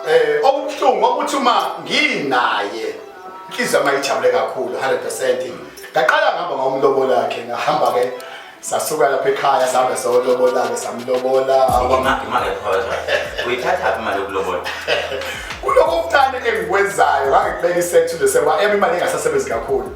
Eh, okubuhlungu ukuthi uma nginaye inhliziyo yami ayijabule kakhulu 100% ngaqala ngihamba ngomlobola wakhe ngahamba-ke sasuka lapha ekhaya sahambe solobola-ke samlobola uyithathaphi imali yokulobola kuloko kuthane engikwenzayo ngangikubeka isethulo seba ema imali engasasebenzi kakhulu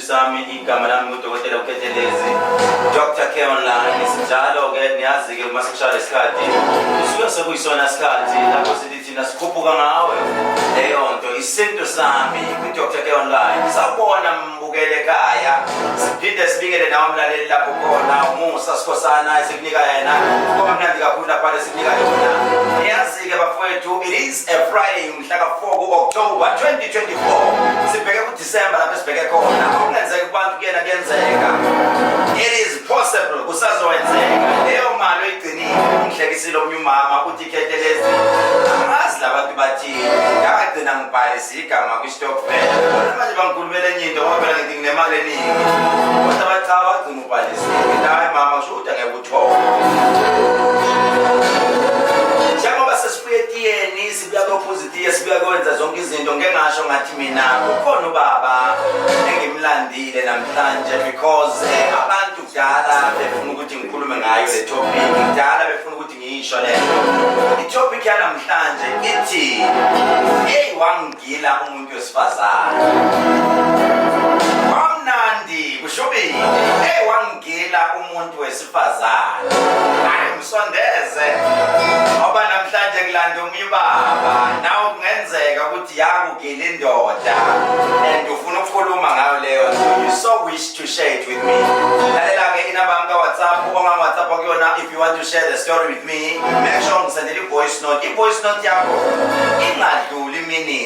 Sami igama lami ngudokotela Ukhethelezi Dr Care Online sinjalo ke niyazi ke uma sekushaya lesikhathi kusuke sekuyisona isikhathi lapho sithi thina sikhuphuka ngawe leyo nto isintu sami kwi-dr Care Online sawubona mbukele ekhaya siphinde sibikele nawe mlaleli lapho khona umusa sikhosana esikunika yena kuba mnandi kakhulu lapha lesikunika yona niyazi-ke bafowethu it is a friday mhla ka-4 ku-october 2024 sibheke December lapho esibheke khona okungenzeka kubantu kuyena kuyenzeka it is possible kusazokwenzeka leyo mali oyigcinile ungihlekisile omunye umama uthi ikhethe lezi angazi labantu bathini ngagcina ngibhalise igama kwistokfel bona manje bangikhulumela enye into ngoba phela ngithi nginemali eningi kodwa bathi cha wagcina ubhalisile ngithi hayi mama kusho ukuthi angeke uthole sibuya kophuzitiye sibuya kwenza zonke izinto ngeke ngasho ngathi mina ukhona ubaba engimlandile namhlanje because eh, abantu kudala befuna ukuthi ngikhulume ngayo le topic kudala befuna ukuthi ngiyisho le itopic yanamhlanje ithi hey wangigila umuntu umuntu wesifazane mamnandi kushubile hey wangila umuntu wesifazane ayimsondeze ngoba namhlanje kulanda omunye ubaba nawe kungenzeka ukuthi yakugila indoda and ufuna ukukhuluma ngayo leyo you so wish to share it with me lalela-ke inamba yami kawhatsapp ongangwhatsapp kuyona if you want to share the story with me make sure ngisendela i-voice note i-voice note yakho ingadluli iminute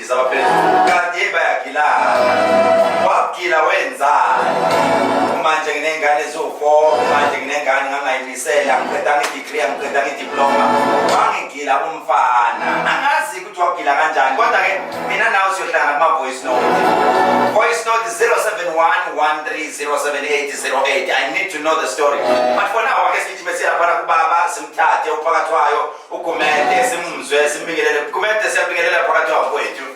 Izabaphezulu kade bayagilana wagila wenzani manje nginengane eziwu-four manje nginengane ngangayimisela ngiqeda ngidegree ngiqeda ngidiploma wangigila umfana angazi ukuthi wagila kanjani kodwa-ke mina nawe siyohlangana kuma-voice note voice note 0711307808 i need to know the story but for now ake sithi besiyaphana kubaba simthathe uphakathi wayo ugumede simuzwe simbingelele gumede siyabingelela phakathi wakwethu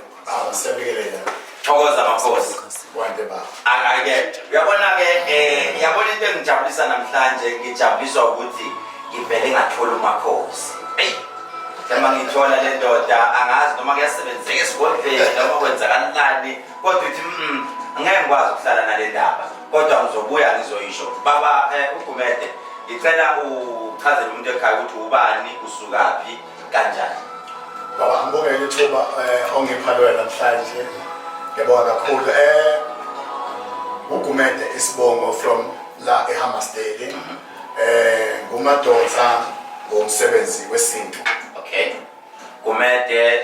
siyabingelela thokoza makhosi wande ba akake uyabona ke eh yabona into engijabulisa namhlanje ngijabuliswa ukuthi ngivele ngathola umakhosi eyi noma ngithola le ndoda angazi noma kuyasebenzeka esigodleni noma kwenzakalani kodwa uthi mm, ngeke ngikwazi ukuhlala nale ndaba kodwa ngizobuya ngizoyisho baba eh, ugumede ngicela uchazele umuntu ekhaya ukuthi ubani usukaphi kanjani baba ngibonge ithuba eh, ongipha loyo namhlanje ngiyabonga kakhulu um eh, ugumede isibongo from la ehamasteli um mhm. eh, ngumadoda ngomsebenzi wesintu okay gumede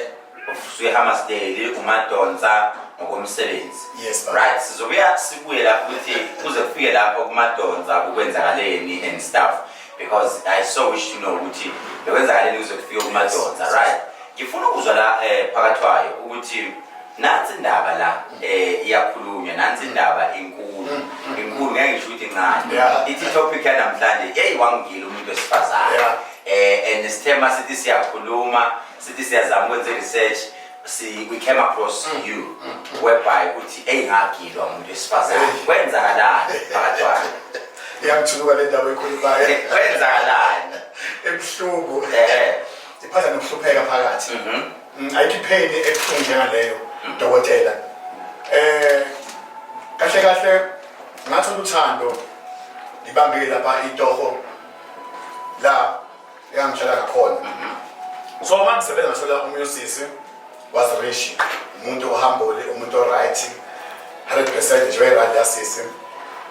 uvusuke hamasdale umadonsa ngokomsebenzi yes, right sizobuya sibuye lapho ukuthi kuze kufike lapho kumadonsa kukwenzakaleni and stuff because i so wish to know ukuthi bekwenzakaleni kuze kufike kumadonsa yes. right ngifuna ukuzwa la eh, phakathi wayo ukuthi nansi indaba la eh, iyakhulunywa nansi indaba inkulu mm, mm, mm. inkulu ngeke ngisho ukuthi incane yeah. ithi topic yanamhlanje eyi wangigila umuntu wesifazane yeah. eh, and sithema sithi siyakhuluma sithi siyazama ukwenza i-research si we came across mm. you mm. mm. whereby uthi eyingagilwa umuntu wesifazane kwenzakalani phakathwane iyangithunuka le ndaba ekhulumayo kwenzakalani ebuhlungu iphatha nokuhlupheka phakathi mm-hmm. ayikho ipheni ebuhlungu njengaleyo mm. dokotela eh kahle kahle ngathola uthando ngibambile lapha itoho la Yangitshela ngakhona. So uma ngisebenza ngithola omunye usisi was rich, umuntu ohambole, umuntu oright, 100% nje wayerandi yasisi.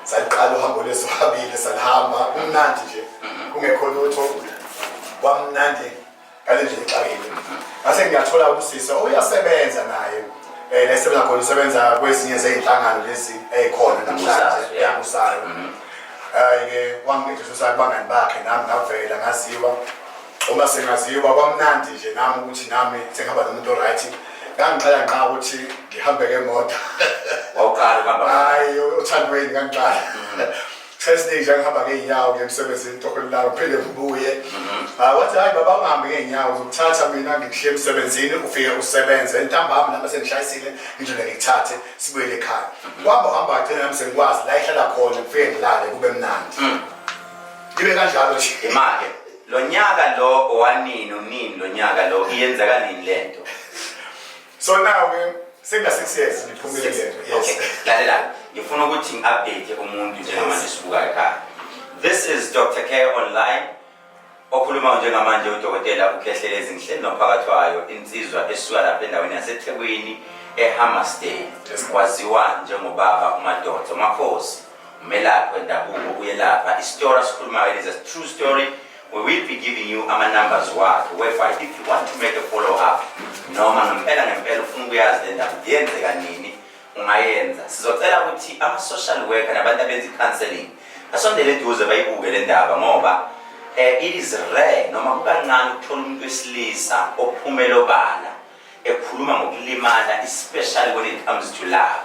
Saliqala uhambo lweso habile salihamba kumnandi nje mhm. kungekho lutho kwamnandi ngale nje ngixakile. Ngase ngiyathola usisi oyasebenza oh, naye eh nesebenza khona usebenza kwezinye zezinhlangano lezi ezikhona namhlanje eyakusayo. Mhm. hhayi-ke wangidlisa usali bangani bakhe nami ngavela ngaziwa uma sengaziwa kwamnandi nje nami ukuthi nami sengihamba nomuntu oright ngangiqala nqa ukuthi ngihambe ngemoto hayi othandweni ngangiqala mm-hmm. sesiningi nje ngihamba ngey'nyawo nje emsebenzini tokolilalo phinde ngibuye mm-hmm. ah, wathi hhayi baba ungahambi ngey'nyawo uzokuthatha mina ngikuhle emsebenzini ufike usebenze ntambami nami sengishayisile ngijole ngikuthathe sibuyele ekhaya kwamba uhamba agcina nami sengikwazi la ihlala khona kufike ngilale kube mnandi mm. ibe kanjalo nje imake lo nyaka lo owanini unini lo nyaka lo iyenzeka nini le nto so nawe senga-six years ngiphumile le nto yes lalela ngifuna ukuthi ngi-update umuntu njengamanje sibuka ekhaya this is dr care online Okhulumayo njengamanje uDokotela uKhehlele Zinhle nophakathi wayo insizwa esuka lapha endaweni yaseThekwini eHammersdale waziwa njengobaba uMadonso Makhosi umelaphi wendabuko uyelapha isitora sikhulumayo it is a true story we will be giving you ama-numbers wakhe whereby if you want to make a follow up noma ngempela ngempela ufuna ukuyazi le ndaba yenzeka nini ungayenza sizocela ukuthi ama-social worker nabantu abenza i-counseling basondele eduze bayibuke le ndaba ngoba um it is rare noma kukancane ukuthola umuntu wesilisa ophumela obala ekhuluma ngokulimala especially when it comes to love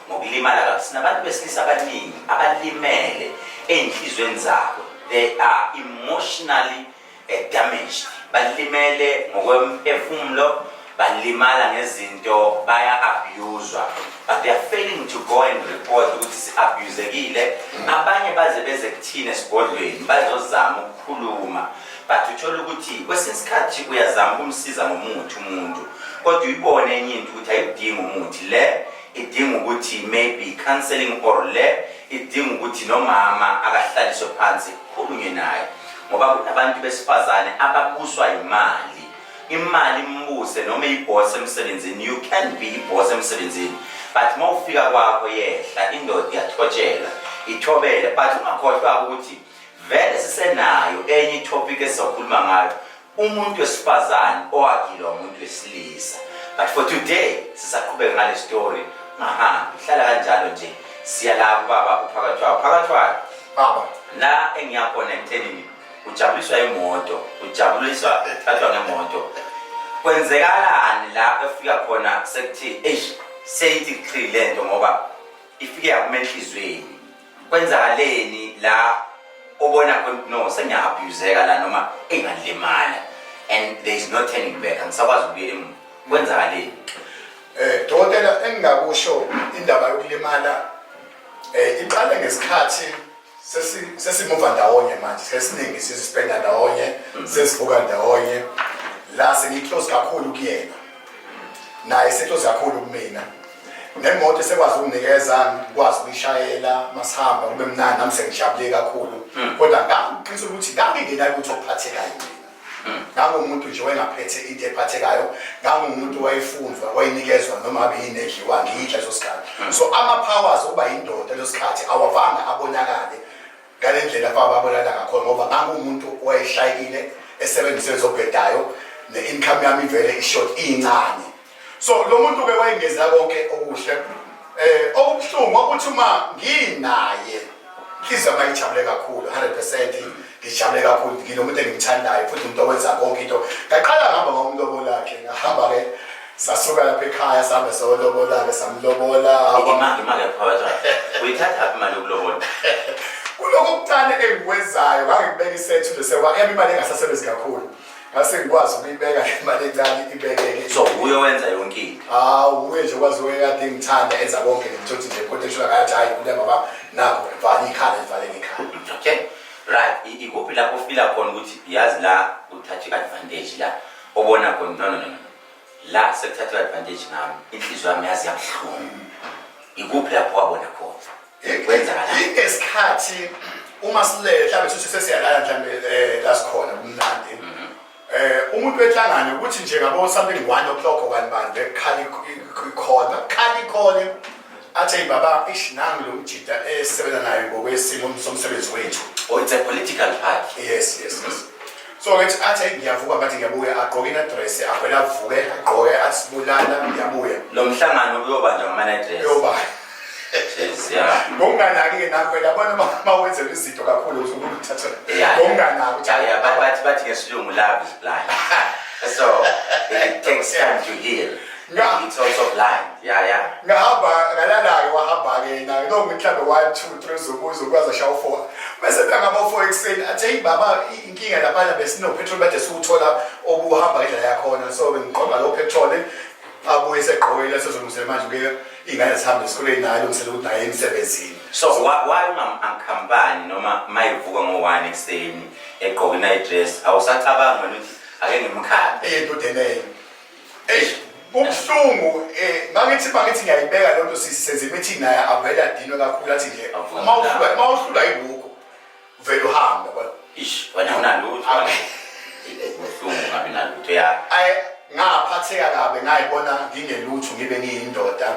ngokulimala kabi sinabantu besilisa abaningi abalimele ey'nhliziyweni zabo they are emotionally eh, damaged balimele ngokwemphefumulo balimala ngezinto baya abuswa but they are failing to go and report ukuthi si-abuzekile abanye baze beze kuthina esigodlweni bazozama ukukhuluma but uthole ukuthi kwesinye isikhathi uyazama ukumsiza ngomuthi umuntu kodwa uyibone enye into ukuthi ayidingi umuthi le idinga ukuthi maybe counseling or le idinga ukuthi nomama akahlaliswe phansi khulunywe naye ngoba kunabantu besifazane ababuswa imali imali imbuse noma iboss emsebenzini you can be iboss emsebenzini but mawufika kwakho yehla indoda iyathotshela ithobele but ungakhohlwa ukuthi vele sisenayo enye topic esizokhuluma ngayo umuntu wesifazane owagilwa umuntu wesilisa but for today sisaqhubeka ngale story ngahambi hlala kanjalo nje siya lapho baba uphakathwayo phakathwayo baba la engiyakhona ekuthenini ujabuliswa imoto ujabuliswa thathwa ngemoto kwenzekalani la efika khona sekuthi eish seyithi qhi le nto ngoba ifike yakuma enhliziyweni kwenzakaleni la obona ukuthi no sengiyaabuseka la noma engalimala and there is no turning back angisakwazi ukuyela emuva kwenzakaleni eh dokotela engingakusho indaba yokulimala Eh iqale ngesikhathi sesi sesimuva ndawonye manje sesiningi sizispenda ndawonye mm. sesivuka ndawonye la sengiclose kakhulu kuyena naye seclose kakhulu kumina nemoto esekwazi ukunikeza ngikwazi ukuyishayela masihamba kube mnandi nami sengijabule kakhulu mm. kodwa ngaqinisa ukuthi ngangingenalutho okuphathekayo mina ngangumuntu nje wayengaphethe into ephathekayo ngangumuntu wayefunzwa wayenikezwa noma abe yini edliwa ngiyidla leso sikhathi hmm. so ama-powers okuba yindoda leso sikhathi awavanga abonakale ngale ndlela bababonakala ngakhona ngoba ngangumuntu wayeshayekile esebenzise zobhedayo ne-income yami ivele ishort iyincane so lo muntu ke wayengeza konke okuhle eh okubuhlungu ukuthi uma nginaye inhliziyo yami ayijabule kakhulu 100% ngijabule kakhulu ngilomuntu engimthandayo futhi umuntu owenza konke into ngaqala ngihamba ngomlobo lakhe ngahamba ke sasuka lapha ekhaya sihambe solobolake samlobola imali imali yaphakathi uyithatha aphi imali yokulobola kuloko kucane engikwenzayo ngangikubeka isethu lesewa ema imali engasasebenzi kakhulu ngase ngikwazi ukuyibeka imali encane ibekeke so uye wenza yonke into hawu uye nje kwazi uye kade ngithanda enza konke ngithothi nje kodwa eshula ngathi hayi kule baba nakho vala ikhala ivale ngekhala okay right ikuphi lapho ufila khona ukuthi yazi la uthathe advantage la obona khona no no no la sekuthatha advantage ngami inhliziyo yami yazi yabuhlungu ikuphi lapho wabona khona ingesikhathi uma silele mhlawumbe sithi sesiyalala mhlawumbe um la sikhona kumnandi um umuntu wenhlangano ukuthi nje ngabo something one o'clock okani bani bekhala ikhona khala ikhona athe baba ish nami lo mjida esisebenza nayo ngokwesimo somsebenzi wethu or oh, it's a political party yes yes yes so ngithi athi ngiyavuka manje ngiyabuya agqoke inadress avele avuke agqoke asibulala ngiyabuya lo mhlangano uyobanjwa ngamanadress uyobanjwa ngokunganaki-ke nakho yabona uma wenzela izinto kakhulu uzukuthatha ngokunganaki bathi ke silungu love is blind so it takes time to heal Nga- It's also blind. Yeah, yeah. ngahamba ngalala-ke wahamba-ke yena no mhlawumbe one two three zobuzo kwaze shawo four bese kangaba four ekuseni athi heyi baba i- inkinga laphana besinopetrol bade siwuthola obuhamba ngendlela yakhona so bengiqonda lowo petrol abuye segqokile sezolungisele manje kuye iy'ngane zihambe esikoleni naye alungisele ukuthi naye emsebenzini So why why ungamkhampani noma mayivuka ngo-one ekuseni egqoke i-night dress awusacabangi wena ukuthi ake ngimkhande eyentudeleyo Eish, kubuhlungu eh mangithi mangithi ngiyayibeka lento sisenze imithi naye avela dino kakhulu athi nje uma uhlula uma uhlula ibuko vele uhambe yabona. Eish, wena unalutho. Kubuhlungu ngabe nalutho ya. Ay ngaphatheka kabe ngayibona ngingelutho ngibe ngiyindoda.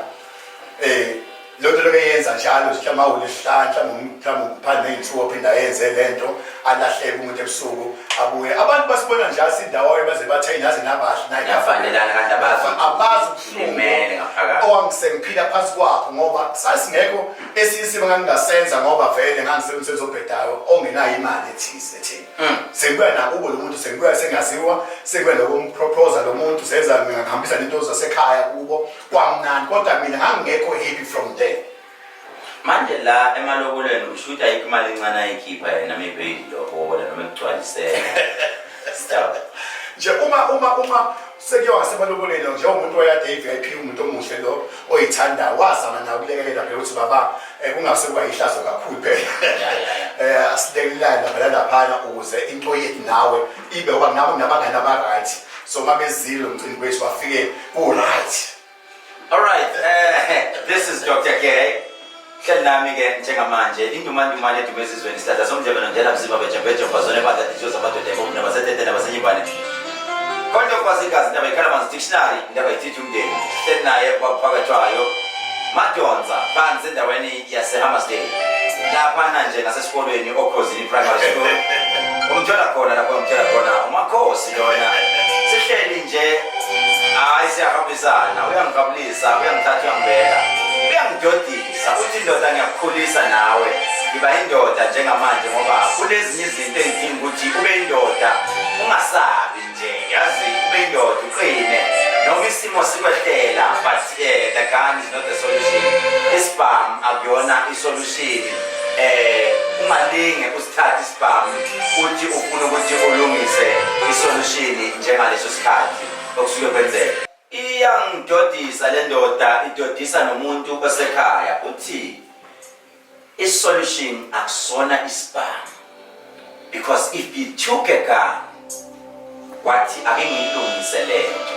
Eh loo nto loke yenza njalo nje mhlawumbe awulesihlanu mhlawumbe mhlawumbe ngiphandle ney'nsuku ophinde ayenze le nto alahleke umuntu ebusuku abuye abantu basibona njalo sindawoyo baze bathe naze nabahle naye Ngiyafanelana kanti abazi ukuthi abazi ulimele ubuhlungu ngaphakathi. owangisengiphila phansi kwakho ngoba sasingekho esinye isimo ngangingasenza ngoba vele ngangisemsebenzi obhedayo ongenayo imali ethize ethini Mm. sengibuya nakubo lo muntu sengibuya sengaziwa sengibuya nokumpropoza lo muntu senza ngihambisa nento zasekhaya kubo kwamnandi kodwa mina ngangingekho happy from there manje la emalobolweni ushuthi ayikho imali encane ayikhipha yena maybe ilobola noma ekugcwalisela stop nje uma uma uma sekuyo ngasebaloboleni nje umuntu oyade i-vip umuntu omuhle lo oyithanda wazama nawo kulekelela phela ukuthi baba eh, kungase kuba yihlazo kakhulu phela um eh, asilekelelani lapha lalaphana ukuze into yethu nawe ibe ngoba nabo nabangani aba-right so uma bezile umcimbi wethu bafike ku-right alright uh, eh, this is dr gay hleli nami-ke njengamanje indumandumane edume ezizweni isihlahla somdlebe nondlela mzima bejembeje mfazone badadithiyo zamadoda ebomnaba setetena basenyibane kodwa kwazi igazi ndaba ikhala manzi dictionary ndaba ithithi Umndeni uhleli naye kwakuphakathwayo madonsa phansi endaweni yasehammersdale laphana nje ngasesikolweni okhozini primary school umthola khona lapho umthola khona umakhosi lona sihleli nje hayi siyahambisana uyangikabulisa uyangithatha uyangibeka uyangidodisa uthi indoda ngiyakukhulisa nawe ngiba indoda njengamanje ngoba kunezinye izinto engidinga ukuthi ube indoda ungasabi nje yazi ube indoda uqine noma isimo sikwehlela but uh, the gun is not the solution isibham akuyona isolution eh ungalinge usithathe isibham uthi ufuna ukuthi ulungise isolution njengaleso sikhathi okusuke kwenzeka iyangidodisa le ndoda idodisa nomuntu osekhaya uthi I solution akusona isibhamu because if you took a gun wathi ake ngiyilungise lento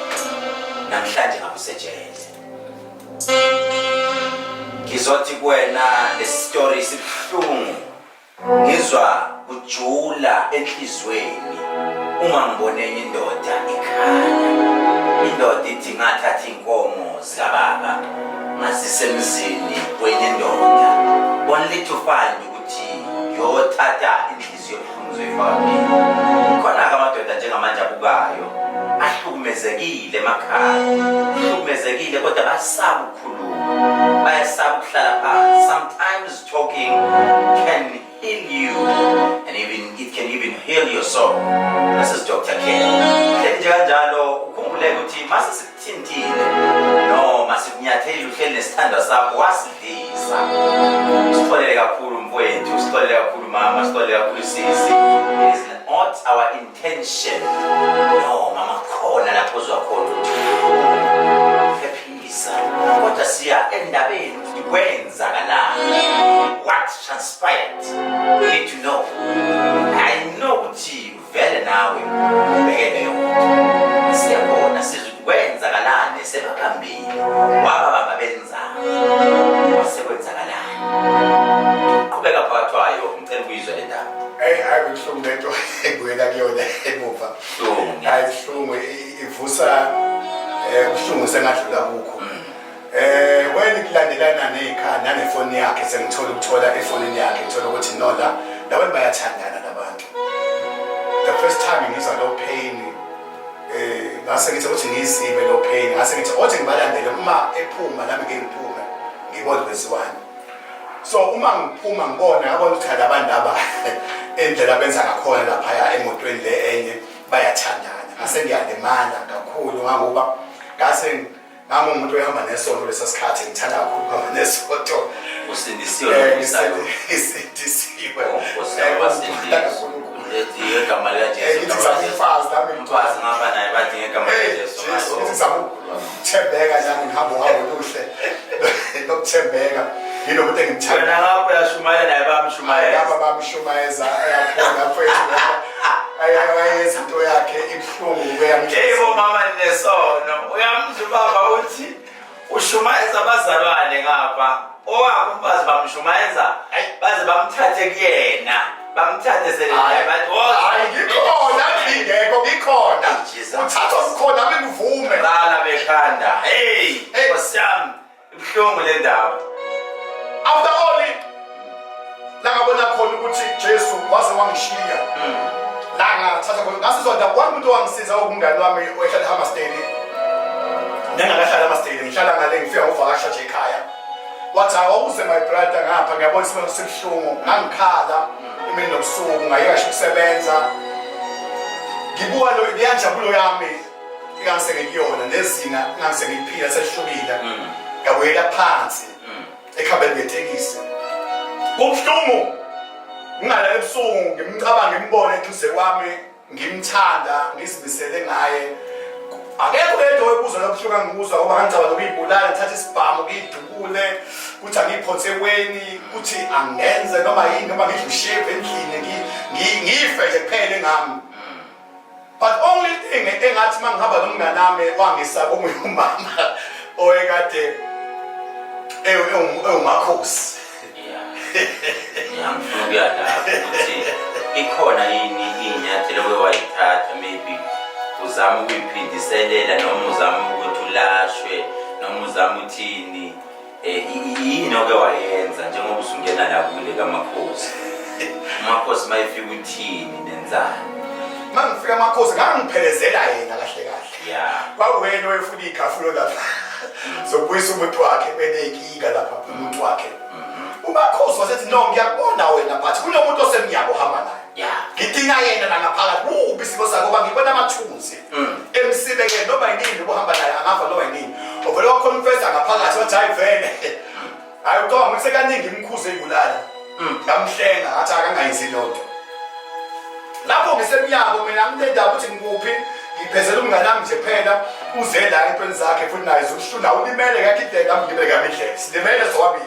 namhlanje ngakusejele ngizothi kuwena lesitori sibuhlungu ngizwa kujula enhlizweni uma ngibone enye indoda ikhaya indoda ithi ngathatha inkomo Sikababa masisemzini kwenye ndoda only to find ukuthi yothatha inhliziyo ebuhlungu zoyifaka mina khona-ke amadoda njengamanje abukayo ahlukumezekile emakhaya ahlukumezekile kodwa basaba ukukhuluma bayasaba ukuhlala phansi sometimes talking can in you and even it can even heal your soul this is Dr. K hleli nje kanjalo ukhumbule ukuthi masisithintile noma sikunyatheli uhleli nesithandwa sakho wasidlisa sixolele kakhulu mfowethu sixolele kakhulu mama sixolele kakhulu sisi it is not our intention no mama khona lapho uzwa khona Kodwa siya endabeni ukuthi kwenzakalani. What transpired? We need to know. I know ukuthi vele nawe ubeke leyo nto. Siyabona sizwe ukuthi kwenzakalani sebaphambili. Waba baba benzani? Wase kwenzakalani? Uqhubeka phakathi wayo ngicela ukuyizwa le ndaba. Hey, hayi kubuhlungu lento engibuyela kuyona emuva. Buhlungu. Hayi kubuhlungu. ivusa eh ubuhlungu sengadlula kukho eh wena kulandelana nezikhaya nanefoni yakhe sengithola ukuthola efonini yakhe ngithola ukuthi nola labantu bayathandana labantu the first time ngizwa lo pain eh ngase ngithi ukuthi ngizime lo pain ngase ngithi othi ngibalandele uma ephuma nami ngiphuma ngibona kwenziwani so uma ngiphuma ngibona yabona ukuthi abantu laba endlela benza ngakhona lapha emotweni le enye bayathandana ngase ngiyalimala kakhulu ngangoba ngase ngangumuntu ohamba nesonto lesa sikhathi ngithanda kakhulu ukuhamba nesonto usindisiwe eh, ngisindisiwe oh, eh, ngithi samfazi nami mfazi ngaba naye bathi ngegama likaJesu Thembeka nami ngihamba uhambo oluhle lokuthembeka yilo muntu engimthanda wena lapho yashumayela naye bamshumayeza lapha bamshumayeza ayakhona mfethu ayayenza into yakhe ibuhlungu kuyamjebo mama nesono uyamzwa ubaba uthi ushumayeza abazalwane ngapha owabo umfazi bamshumayeza baze bamthathe kuyena bamthathe selngikhona ngingekho ngikhona uthathwa kukhona ame ngivume bala bekhanda heyi nkosiyami ibuhlungu le ndaba after all Nakabona khona ukuthi Jesu waze wangishiya. Mm. La ngathatha khona ngasizonda kwami umuntu owangisiza okumngani wami oyehlala eHammersdale. Nengakahlala eHammersdale ngihlala ngale ngifika ngokuvakasha nje ekhaya. Wathi awuze my brother ngapha ngiyabona isimo sibuhlungu ngangikhala imini nobusuku ngayeka ukusebenza. Ngibuka lo iyanjabulo yami ingasengikuyona nezinga ingasengikuphila selihlukile. Mm. Ngabuyela phansi. ekhabeni ngetekisi kubuhlungu ngingalala ebusuku ngimcabanga ngimbone eduze kwami ngimthanda ngizimisele ngaye akekho yedwa owebuza lobuhlungu angibuzwa ngoba ngangicabanga ukuyibulala ngithatha isibhamu ngiyidubule ukuthi angiyiphonse eweni ukuthi angenze noma yini noma ngidle usheve endlini ngiyife nje kuphele ngami but only thing engathi mangihamba nomngane wami wangisaba omunye umama oyekade ewumakhosi ngiyangifuna ukuya lapho ukuthi ikhona yini iy'nyathelo bewayithatha maybe uzama ukuyiphindiselela noma uzama ukuthi ulashwe noma uzama uthini Eh, yini oke wayenza njengoba usungena la kule kamakhosi umakhosi uma efika uthini nenzani uma ngifika amakhosi ngangiphelezela yena kahle kahle ya kwawena owefuna igafulo lapha zobuyisa umuntu wakhe beneyinkinga lapha umuntu wakhe mm-hmm. umakhosi wasethi no ngiyakubona wena but kunomuntu osemnyabo hamba naye ya ngidinga yena nangaphakathi kubi isimo sakho ngoba ngibona amathunzi mm. emsibe ke noma yini ubuhamba naye angafa noma yini ovele waconfessa ngaphakathi wathi hayi vele hayi ucabanga ukuthi sekaningi imkhuze ibulala mm. ngamhlenga ngathi akangayizi lonto lapho ngisemnyango mina ngitenda ukuthi ngikuphi ngiphezela umngane wami nje phela uze la entweni zakhe futhi naye zokushuna ulimele kakhe indlela mgibele kamindlela silimele sobabili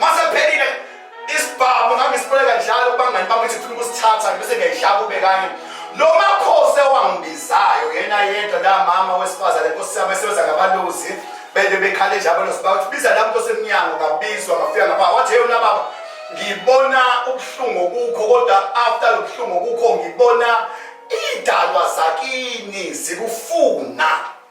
masephelile isibhamu ngangisibuleka njalo kubangani bami ukuthi funa ukusithatha bese ngiyayihlaba ube kanye lo makhosi ewangibizayo yena yedwa la mama wesifazane nkosi yami esebenza ngabalozi bende bekhale nje abalozi bakuthi biza la muntu osemnyango ngabizwa ngafika ngapha wathi yeyona baba ngibona ubuhlungu kukho kodwa after lo buhlungu kukho ngibona iy'dalwa zakini zikufuna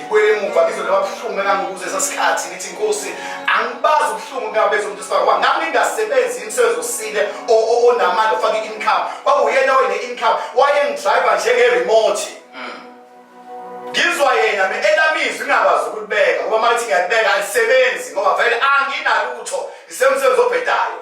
ngibuyele emuva ngizwe laba buhlungu engangibuze sasikhathi ngithi inkosi angibazi ubuhlungu ngabeza umuntu sibakwa ngami ngingasebenzi imisebenzi osile onamandla ofaka i-income kwakuyena wene income wayengidriver njenge-remote mm. ngizwa yena me elamizwi ngingakwazi ukulibeka ngoba mathi ngiyalibeka alisebenzi ngoba vele anginalutho ngisemsebenzi obhedayo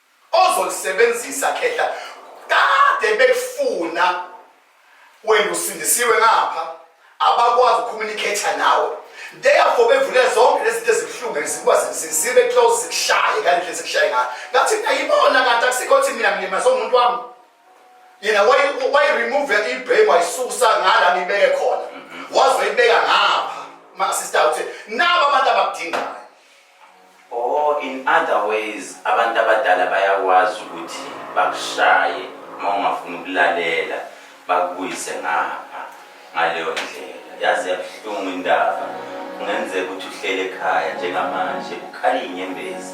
ozolisebenzisa khehla kade bekufuna wena usindisiwe ngapha abakwazi ukucommunicate nawe therefore bevule zonke lezi zinto ezibuhlungu ezikuba zibe close zikushaye kanti lezi kushaye ngayo ngathi mina yibona kanti akusikho ukuthi mina ngilimaze umuntu wami yena wayiremove ibhemu wayisusa ngala ngibeke khona mhm. wazoyibeka ngapha masista uthi nabo abantu abakudingayo Or in other ways abantu abadala bayakwazi ukuthi bakushaye uma ungafuni ukulalela bakubuyise ngapha ngaleyo ndlela yazi yabuhlungu indaba kungenzeka ukuthi uhlele ekhaya njengamanje ukhale inyembezi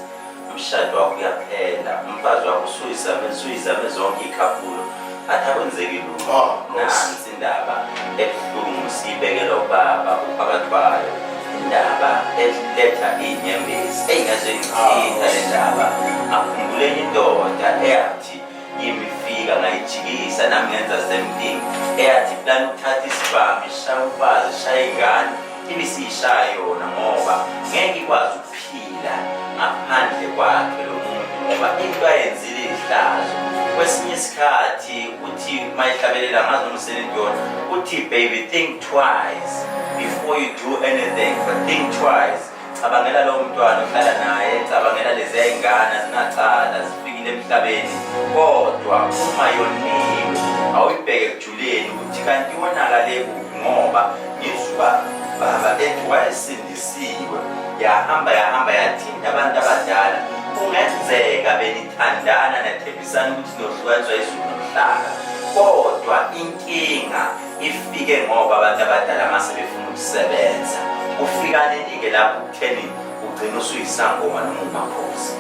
umshado wakho uyaphela umfazi wakho usuyizame usuyizame zonke iy'khafulo athi akwenzeki lutho ah, nansi Indaba ebuhlungu siyibekela ubaba uphakathi kwayo indaba eletha iy'nyembezi ey'ngezwe ngithinta le ndaba akhumbule indoda eyathi yimifika ngayijikisa nami ngenza same thing eyathi plan ukuthatha isibhamu ishaya umfazi ishaya ingane ibe siyishaya yona ngoba ngeke ikwazi Phila ngaphandle kwakhe lo muntu ngoba into ayenzile ihlazo kwesinye isikhathi uthi uma ihlabelela ngazi noma usenendona uthi baby think twice before you do anything but think twice cabangela lowo mntwana ohlala naye cabangela lezi yayingane azinacala zifikile emhlabeni kodwa uma yoniwe awuyibheke ekujuleni ukuthi kanti wonakale kuphi ngoba ngizuba baba ethi wayesini Isiwe yahamba yahamba yathinta abantu abadala kungenzeka benithandana nathembisana ukuthi nohlukaniswa izulu nomhlaba kodwa inkinga ifike ngoba abantu abadala uma sebefuna ukusebenza ufika ninike lapho kutheni ugcina usuyisangoma noma umakhosi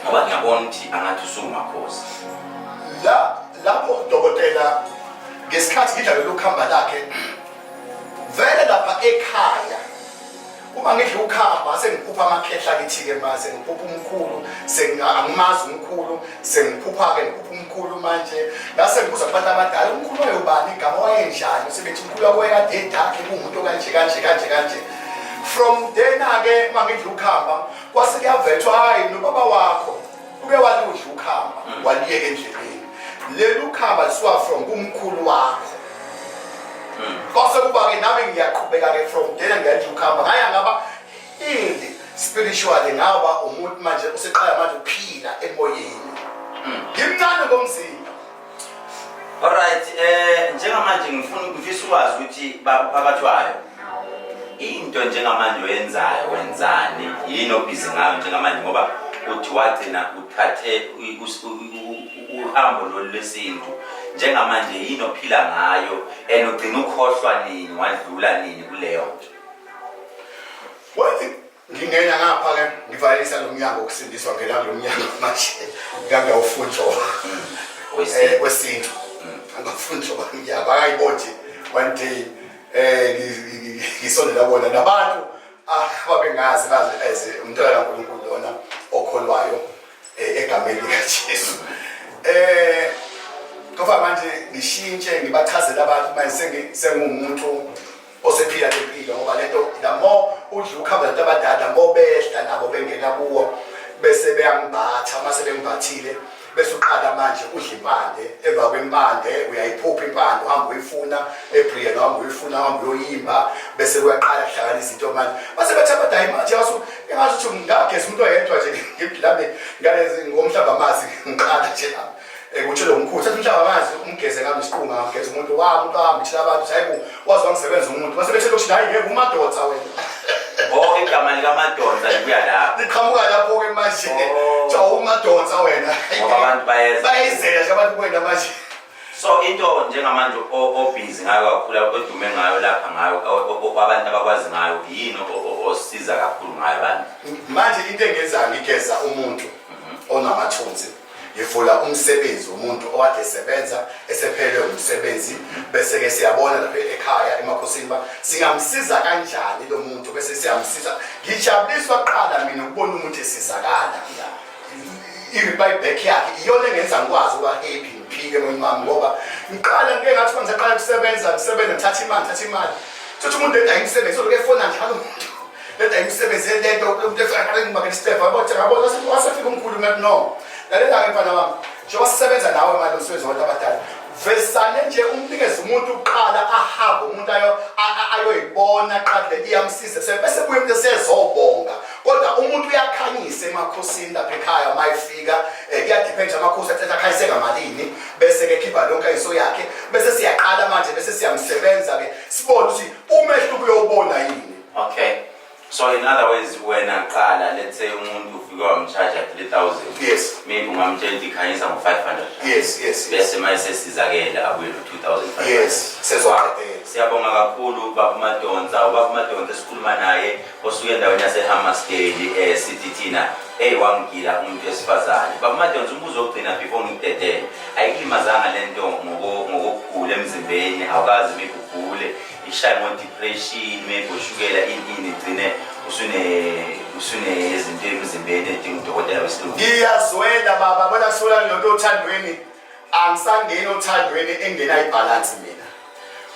ngoba ngiyabona ukuthi angathi usuwumakhosi la lapho udokotela ngesikhathi ngidlalelwa ukuhamba lakhe vele lapha ekhaya uma ngidla ukhamba sengiphupha amakhehla kithi-ke ma sengiphupha umkhulu angimazi umkhulu sengiphupha-ke ngiphupha umkhulu manje ngase ngibuza kubantu abadala umkhulu wayobani igama wayenjani sebethi umkhulu wakwekade edakhe kuwumuntu kanje kanje kanje kanje from then-ake uma ngidla ukhamba kwase kuyavethwa hhayi nobaba wakho uke waludla ukhamba waliyeka endleleni leli ukhamba lisuka from kumkhulu wakho kwase kuba-ke nami ngiyaqhubeka-ke from dena ngiyathi ukhamba ngaya ngaba indi spiritually ngaba umuntu manje useqala manje ukuphila emoyeni ngimncane ngomzimba Alright, eh njengamanje ngifuna ukufisa ukwazi ukuthi bakuphakathwayo. Into njengamanje oyenzayo wenzani? Yini obhizi ngayo njengamanje ngoba uthi wagcina uthathe uhambo lolu lesintu. Njengamanje yini ophila ngayo and ugcina ukhohlwa nini wadlula nini kuleyo nto? ngingena ngapha ke ngivalisa lo mnyango kusindiswa ngela lo mnyango manje ngangawufunjwa eh, wesintu angafunjwa bamnyama akayibonje one day eh ngisondela bona nabantu ababengazi ah, bazi as umntwana kaNkulunkulu lona okholwayo eh, egameni likaJesu eh ngoba manje ngishintshe ngibachazela abantu manje sengumuntu osephila lempilo ngoba lento the more udla ukhamba lento abadada more behla nabo bengena kuwo bese beyangimbatha uma sebengimbathile bese uqala manje udla impande emva kwempande uyayiphupha impande uhamba uyifuna ebrian uhamba uyifuna uhamba uyoyimba bese kuyaqala kuhlakana izinto manje base bethi abadala imanje yasu engazi ukuthi ngingageza umuntu oyedwa nje ngibhilame ngalezi ngomhlaba amazi ngiqala nje lapho ekuthi lo mkhulu sethi mhlawumbe angazi umgeze kambe isiqunga ngigeze umuntu wami umuntu wami thina abantu hayi ku wazi wangisebenza umuntu base bethe lokuthi hayi ngeke umadoda wena oh igama lika madoda libuya lapho liqhamuka lapho ke manje oh. cha umadoda wena ngoba abantu bayeza bayizela nje abantu kwenda manje so into njengamanje obhizi ngayo kakhulu odume ngayo lapha ngayo kwabantu abakwazi ngayo yini osiza kakhulu ngayo abantu manje into engenza ngigeza umuntu mhm. onamathunzi ngivula umsebenzi womuntu okade esebenza esephelelwe umsebenzi bese-ke siyabona lapha ekhaya emakhosini uba singamsiza kanjani lo muntu bese siyamsiza ngijabuliswa kuqala mina ukubona umuntu esizakala i-buyback yakhe iyona engenza ngikwazi ukuba happy ngiphile moyeni wami ngoba ngiqala ngike ngathi uma ngisaqala ukusebenza ngisebenza ngithatha imali ngithatha imali thothi umuntu engayimsebenzi oloku efona njalo umuntu Leta imisebenzi elento umuntu efika aqale ngibakela isitefa yabo thina yabo wasefika umkhulu ngathi no lalela-ke mfana wami njengoba sisebenza nawe manje umsebenzi wabantu abadala vesane nje umnikeze umuntu uqala ahambe umuntu ayo ayoyibona qale iyamsiza se bese buye umuntu sezobonga kodwa umuntu uyakhanyisa emakhosini lapha ekhaya mayifika eh, kuyadepend amakhosi athetha khayise ngamalini bese ke khipha lonke iso yakhe bese siyaqala manje bese siyamsebenza ke sibone ukuthi umehluko uyobona yini okay so in other words wena qala let's say umuntu ufike wamcharge 3000 yes maybe ungamtshela ukuthi khanyisa ngo 500 yes yes bese maye sesizakele abuye no 2500 yes sezwa siyabonga kakhulu baba umadonsa ubaba umadonsa esikhuluma naye osuke endaweni yasehammarsdale um eh, sithi thina eyi wangigila umuntu wesifazane baba umadonsa umbuzo wokugcina before ngikudedele ayikulimazanga le nto ngokugula emzimbeni awukazi mikugule ishaye ngo-depression maybe ushukela inini igcine usunezinto emzimbeni edinga udokotela wesilungu ngiyazwela baba bona kusuka lento othandweni angisangeni othandweni engena ibhalansi mina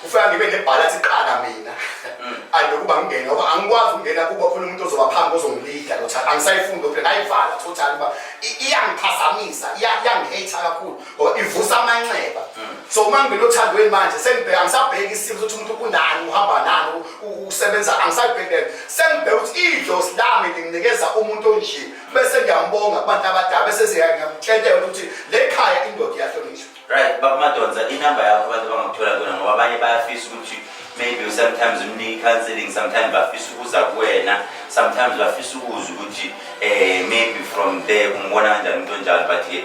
kufika ngibe nebhalansi iqala mina mm. andokuba ngingene ngoba angikwazi ukungena kuba khona umuntu ozoba phambi ozongilida lotha angisayifundi ophela ngayivala totally uba iyangiphazamisa iyangihater kakhulu or ivusa amanxeba hmm. so uma ngibele othandweni manje sengibheka angisabheki isimo sokuthi umuntu kunani uhamba nani usebenza angisayibhekele sengibheka ukuthi idlozi lami linginikeza umuntu onje bese ngiyambonga kubantu abadala bese siyangimtshentela ukuthi le khaya indoda iyahlonishwa right baba madonza inamba yakho abantu bangakuthola kona ngoba abanye bayafisa ukuthi maybe sometimes umnike counseling sometimes bafisa ukuza kuwena sometimes bafisa ukuzwa ukuthi eh maybe from there umbona kanjani umuntu onjalo but ke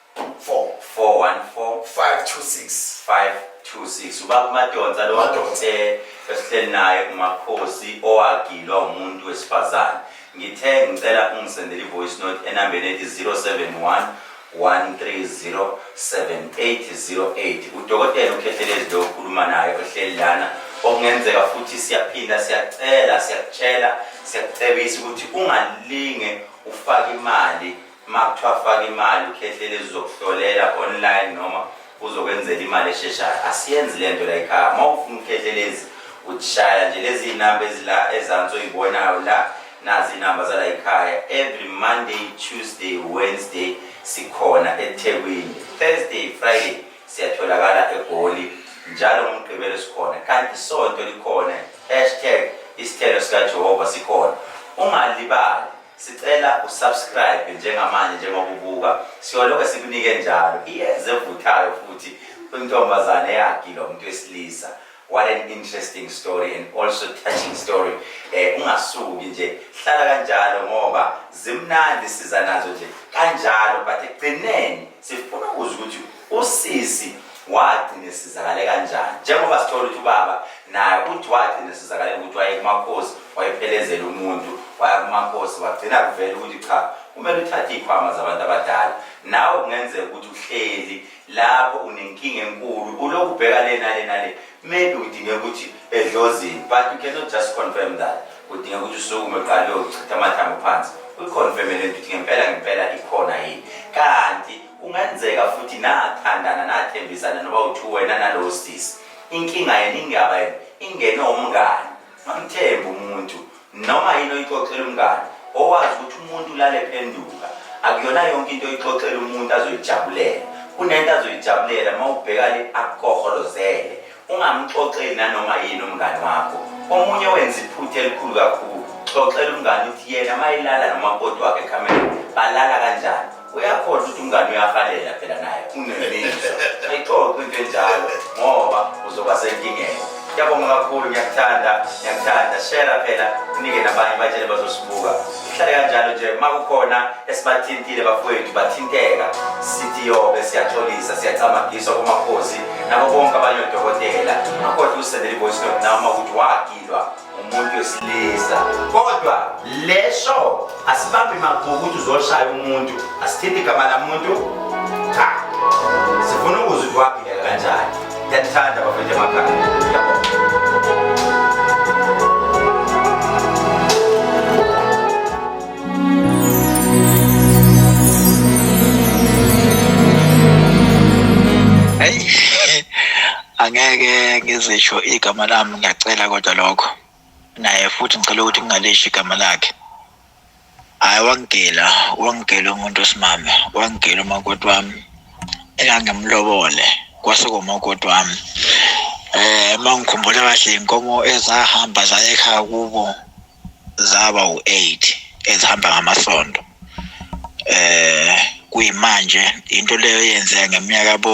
4 414 526 526 ubaba umadonsa lo Umadonsa. eh, esihleli naye umakhosi owagilwa umuntu wesifazane ngithe ngicela ungisendele i-voice note enambeni ethi 071 1307808 udokotela ukhethelezi lo okhuluma naye ohleli lana okungenzeka futhi siyaphinda siyacela siyakutshela siyakucebisa ukuthi ungalinge ufake imali uma kuthiwa faka imali ukhehlele ezizokuhlolela online noma uzokwenzela imali esheshayo asiyenzi le nto layikhaya uma ufuna ukukhehlelezi utshaya nje lezi iy'namba ezila ezansi oyibonayo la nazi iy'namba zalayikhaya every monday tuesday wednesday sikhona ethekwini thursday friday siyatholakala egoli njalo ngomgqibelo sikhona kanti isonto likhona hashtag isithelo sikajehova sikhona ungalibali sicela usubscribe njengamanje njengoba ubuka siyoloke sikunike njalo iyeze evuthayo futhi intombazane yagila umuntu wesilisa what an interesting story and also touching story eh ungasuki nje hlala kanjalo ngoba zimnandi siza nazo nje kanjalo but ekugcineni sifuna ukuzwa ukuthi Usisi wagcina esizakale kanjani njengoba sithola ukuthi ubaba naye uthi wagcina esizakale ukuthi waye kumakhosi wayephelezela umuntu waya kumakhosi wagcina kuvela ukuthi cha kumele uthathe iy'khwama zabantu abadala nawe kungenzeka ukuthi uhleli lapho unenkinga enkulu ulokhu ubheka le nale nale maybe udinge ukuthi edlozini but you cannot just confirm that udinge ukuthi usukume uqale uyochitha amathambo phansi uyikhonfeme le nto ukuthi ngempela ngempela ikhona yini kanti Kungenzeka futhi nathandana nathembisana noba uthi wena nalowo sisi inkinga yena ingaba yena ingene umngane mamthembe umuntu noma yini oyixoxela umngane owazi ukuthi umuntu ulale phenduka akuyona yonke into oyixoxela umuntu azoyijabulela kunento azoyijabulela uma ubheka le akukoholozele Ungamxoxeli nanoma yini umngani wakho. Omunye owenza iphutha elikhulu kakhulu, xoxela umngani ukuthi yena uma elala nomakoti wakhe ekhamereni balala kanjani. Uyakhona ukuthi umngani uyahalela phela naye unemizwa. Ayixoxe into enjalo ngoba uzoba senkingeni. Ngiyabonga kakhulu, ngiyakuthanda, ngiyakuthanda. Share phela unike nabanye batshele bazosibuka. kuhlale kanjalo nje uma kukhona esibathintile bafowethu bathinteka sithi yobe siyaxolisa siyacamagiswa kumakhosi nabo bonke abanye odokotela akodwa usendele ivoice note noma ukuthi wagilwa umuntu wesilisa kodwa lesho asibambi magqubu ukuthi uzoshaya umuntu asithinti igama lamuntu cha sifuna ukuzwa ukuthi wagileka kanjani Ngiyathanda bafethu angeke ngizisho igama lami ngiyacela kodwa lokho naye futhi ngicela ukuthi kungaleshi igama lakhe hayi wangigila wangigila umuntu osimame wangigila umakoti wami engangimlobole kwase komakoti wami eh uma ngikhumbula kahle inkomo ezahamba zaye ekhaya kubo zaba u-eight ezihamba ngamasonto eh kuyimanje into leyo yenzeka ngeminyaka bo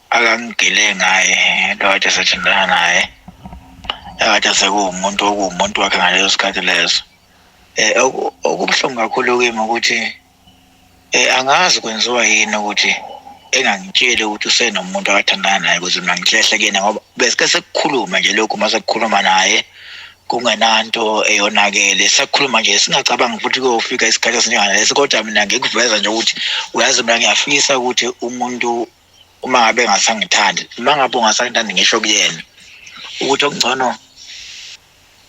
akangigile ngaye lo kade sethintana naye akade sekuwumuntu okuwumuntu wakhe ngaleso sikhathi leso eh okubuhlungu kakhulu kimi ukuthi eh angazi kwenziwa yini ukuthi engangitsheli ukuthi usenomuntu akathandana naye ukuthi mina ngihlehle kuyena ngoba besike sekukhuluma nje lokhu uma sekukhuluma naye kungenanto eyonakele sakhuluma nje singacabangi futhi kuyofika isikhathi esinjengalesi kodwa mina ngikuveza nje ukuthi uyazi mina ngiyafisa ukuthi umuntu uma ngabe ngasangithandi uma ngabe ungasangithandi ngisho kuyena ukuthi okungcono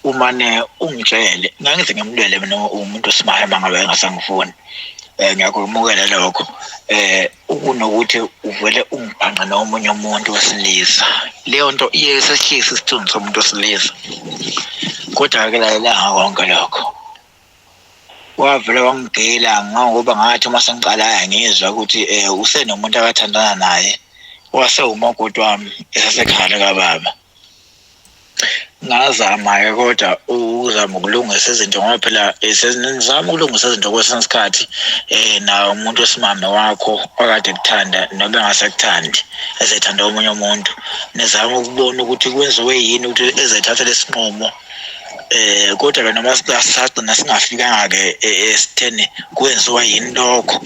umane ungitshele ngangithi ngimlwele mina umuntu osimaya uma ngabe engasangifuni um ngiyakumukela lokho um ukunokuthi uvele ungibhanqe nomunye umuntu wesilisa leyo nto iye sehlise isithunzi somuntu wesilisa kodwa-ke lalela ngako konke lokho wavele wangigila ngangoba ngathi uma sengiqalayo ngizwa ukuthi um usenomuntu akathandana naye wase umakoti wami esasekhale kababa ngazama-ke kodwa ukuzama ukulungisa izinto ngoba phela eh, sengizama ukulungisa izinto kwesinye isikhathi um nawo umuntu wesimame wakho okade kuthanda noma engasekuthandi ezethanda omunye umuntu nizama ukubona ukuthi kwenziwe yini ukuthi ezayithathela isinqumo eh kodwa ke noma sasagcina singafikanga ke esitheni kwenziwa yini lokho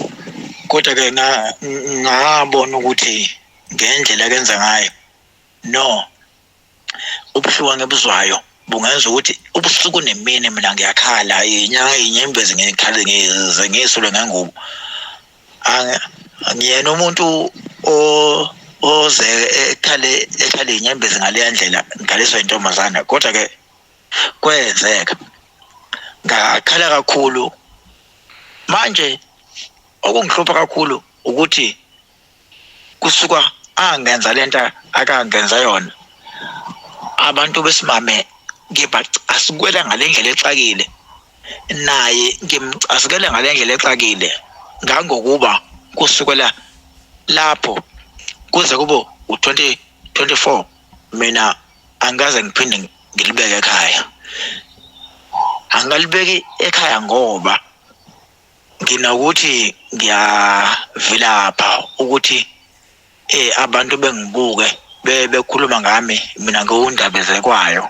kodwa ke ngabona ukuthi ngendlela kenza ngayo no ubuhluka ngebuzwayo bungenza ukuthi ubusuku nemini mina ngiyakhala inyanga inyembezi ngikhale ngize ngisulwe ngengubo ngiyena umuntu o oze ekhale ekhale inyembezi ngaleya ndlela ngidaliswa intombazana kodwa ke kwenzeka ngakhala kakhulu manje okungihlupha kakhulu ukuthi kusuka angenza lento akangenza yona abantu besimame ngibacasukela ngalendlela exakile naye ngimcasukele ngale ndlela exakile ngangokuba kusukela lapho kuze kube u-2024 mina angikaze ngiphinde ngilibeke ekhaya angikalibeki ekhaya ngoba nginokuthi ngiyavilapha ukuthi eh abantu bengibuke bekhuluma ngami mina ngiwundabezekwayo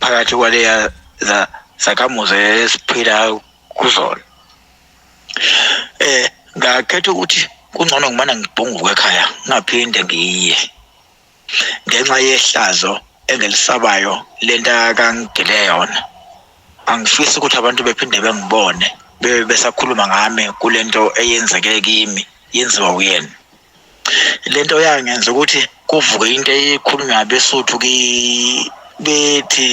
phakathi kwaleya za sakamuze esiphila kuzona eh ngakhetha ukuthi kungcono ngimana ngibhunguke ekhaya ngaphinde ngiye ngenxa yehlazo engilisabayo lento akangigile yona angifisi ukuthi abantu bephinde bengibone bebe besakhuluma ngami kulento eyenzeke kimi yenziwa uyena lento yangenza ukuthi kuvuke into eyikhulunywa abesuthu ki bethi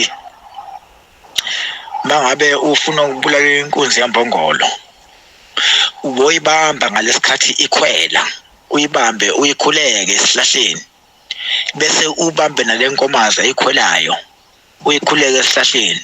mangabe ufuna ukubulala inkunzi yambongolo uboyibamba ngalesikhathi ikhwela uyibambe uyikhuleke esihlahleni bese ubambe nalenkomazi ayikhwelayo uyikhuleke esihlahleni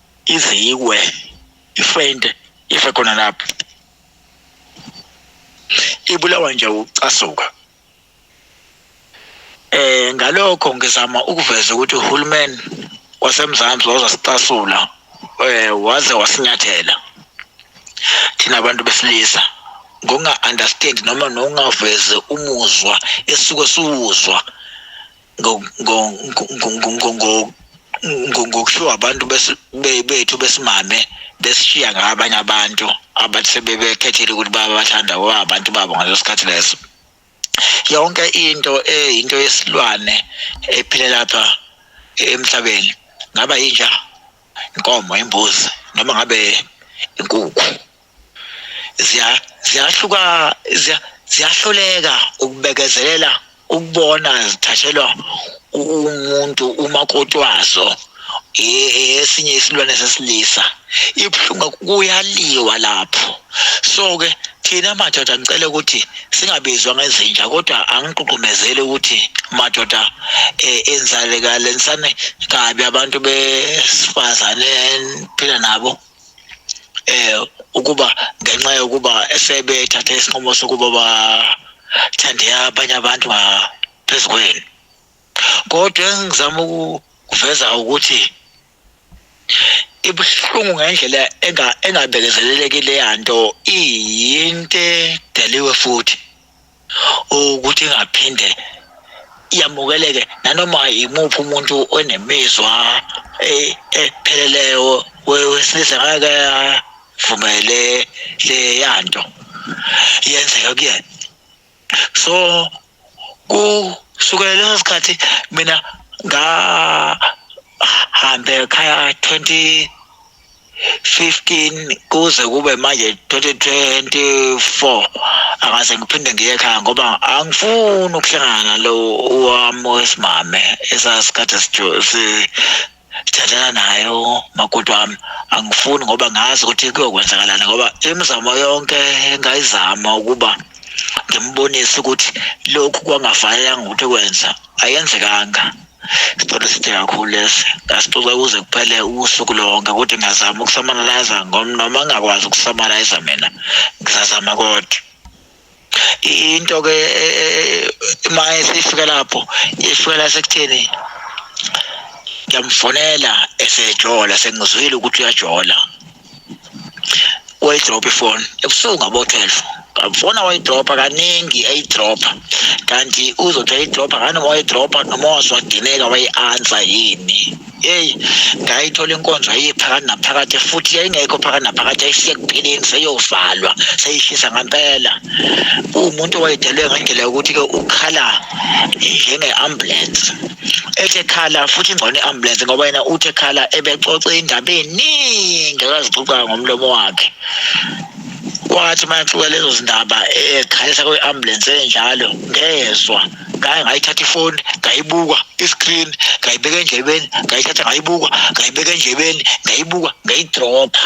ize iwe ifente ife khona lapho ibulawa nje ucasuka eh ngalokho ngizama ukuveza ukuthi uhulumeni wasemzansi wazasicasula eh waze wasinyathela thina abantu besilisa ngokunga-understand noma nokungavezi umuzwa esuke siwuzwa ngokushiwo abantu bethu besimame besishiya ngabanye abantu abathi sebebekhethile ukuthi babathanda abantu babo ngaleso sikhathi leso yonke into eyinto yesilwane ephile lapha emhlabeni ngaba yinja inkomo imbuzi noma ngabe inkukhu ziya ziyahluka ziya ziyahluleka ukubekezelela ukubona zithathelwa umuntu umakoti wazo esinye isilwane sesilisa ibuhlungu kuyaliwa lapho so ke thina madoda ngicela ukuthi singabizwa ngezinja kodwa angiququmezeli ukuthi madoda eh, enzalekale nisane kabi abantu besifazane phila nabo eh ukuba ngenxa yokuba esebethathe isinqumo sokuba bathande abanye abantu ngaphezu kwenu kodwa engizama ukuveza ukuthi ibuhlungu ngendlela engabekezeleleki leya nto iyinto edaliwe futhi ukuthi ingaphinde yamukeleke nanoma yimuphi umuntu onemizwa e-, epheleleyo wesilisa ngeke avumele leya nto yenzeka kuyena so kusukela leso sikhathi mina ngahambe ekhaya 20 15 kuze kube manje 2024 akaze ngiphinde ngiye ekhaya ngoba angifuni ukuhlangana nalo wami wesimame esasikhathi sithathana nayo makoti wami angifuni ngoba ngazi ukuthi kuyokwenzakalana ngoba imizamo yonke engayizama ukuba ngimbonise ukuthi lokhu kwangafanelanga ukuthi kwenza ayenzekanga Sitolo sithe kakhulu lesi ngasixoxa kuze kuphele usuku lonke ukuthi ngiyazama ukusamanaliza noma ngingakwazi ukusamanaliza mina ngizazama kodwa into ke e, e, e, uma esifika lapho ifikela sekutheni ngiyamfonela esejola sengizwile ukuthi uyajola wayidropha ifoni ebusuku ngabo-twelve ngafona wayidropha kaningi eyidropha kanti uzothi ayidropha nganoma wayidropha noma wazwadineka wayi-ansa yini eyi ngayithola inkonzo ayiye phakathi naphakathi futhi yayingekho phakathi naphakathi yayishiye ekupheleni seyovalwa seyishisa ngampela uwumuntu owayedelwe ngendlela yokuthi-ke ukhala njenge-ambulensi ethi ekhala futhi ingcono i-ambulensi ngoba yena uthi ekhala ebexoxe indaba eningi akazixoxayo ngomlomo wakhe kwathi uma exoxa lezo zindaba ekhalisa kwi-ambulensi enjalo ngezwa ngaye ngayithatha ifoni ngayibuka iscreen ngayibeka endlebeni ngayithatha ngayibuka ngayibeka endlebeni ngayibuka ngayidropha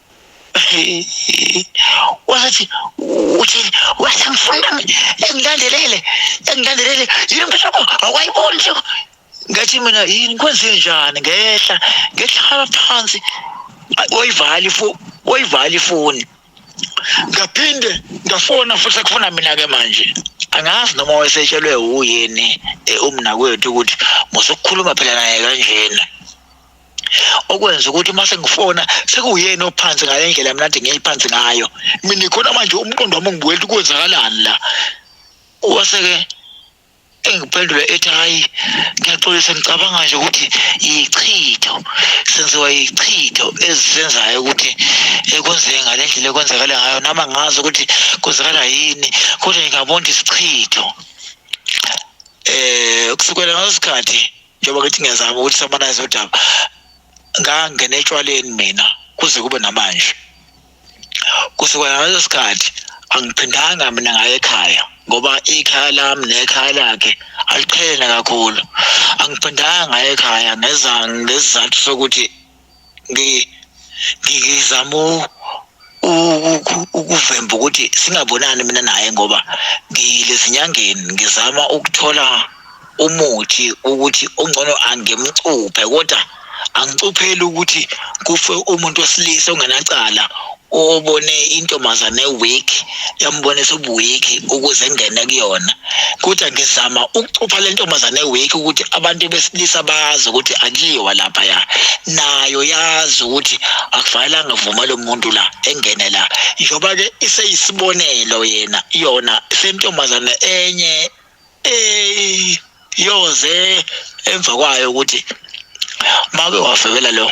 wathi uthini wathi mfana wami engilandelele engilandelele yini impela ko awayiboni nje ngathi mina yini kwenze njani ngehla ngehlala phansi oyivali fo oyivali foni ngaphinde ngafona futhi sekufuna mina ke manje angazi noma wayesetshelwe uyini eh, umnakwethu ukuthi musukukhuluma phela naye kanjena okwenza ukuthi uma sengifona sekuyena ophansi ngale ndlela mina nje ngiyiphansi ngayo mina khona manje umqondo wami ngibuwela ukwenzakalani la wase-ke engiphendula ethi hhayi ngiyaxolisa ngicabanga nje ukuthi yichitho senziwa yichitho ezisenzayo ukuthi ekwenzeke ngale ndlela ekwenzakala ngayo nama ngazi ukuthi kwenzakala yini kodwa ngingabona isichitho um kusukela ngaleso sikhathi njengoba ngithi ngiyazama ukuthi samanayize udaba ngangena etshwaleni mina kuze kube namanje kusukela ngaleso sikhathi angiphindanga mina ngaye ekhaya ngoba ikhaya lami nekhaya lakhe aliqhelene kakhulu angiphindanga ngaye ekhaya ngeza ngesizathu sokuthi ngizama ukuvemba ukuthi singabonani mina naye ngoba ngilezinyangeni ngizama ukuthola umuthi ukuthi ongcono angimcuphe kodwa angicuphe ukuthi kufe umuntu wesilisa ongenacala ubone intombazane eweak yambonisa ubuweak ukuze engene kuyona kodwa ngizama ukucupha le ntombazane eweak ukuthi abantu besilisa bazi ukuthi akuyiwa lapha ya nayo yazi ukuthi akufanelanga vuma lo muntu la engene la njengoba ke iseyisibonelo yena yona sentombazane enye eh yoze emva kwayo ukuthi make wafebela lo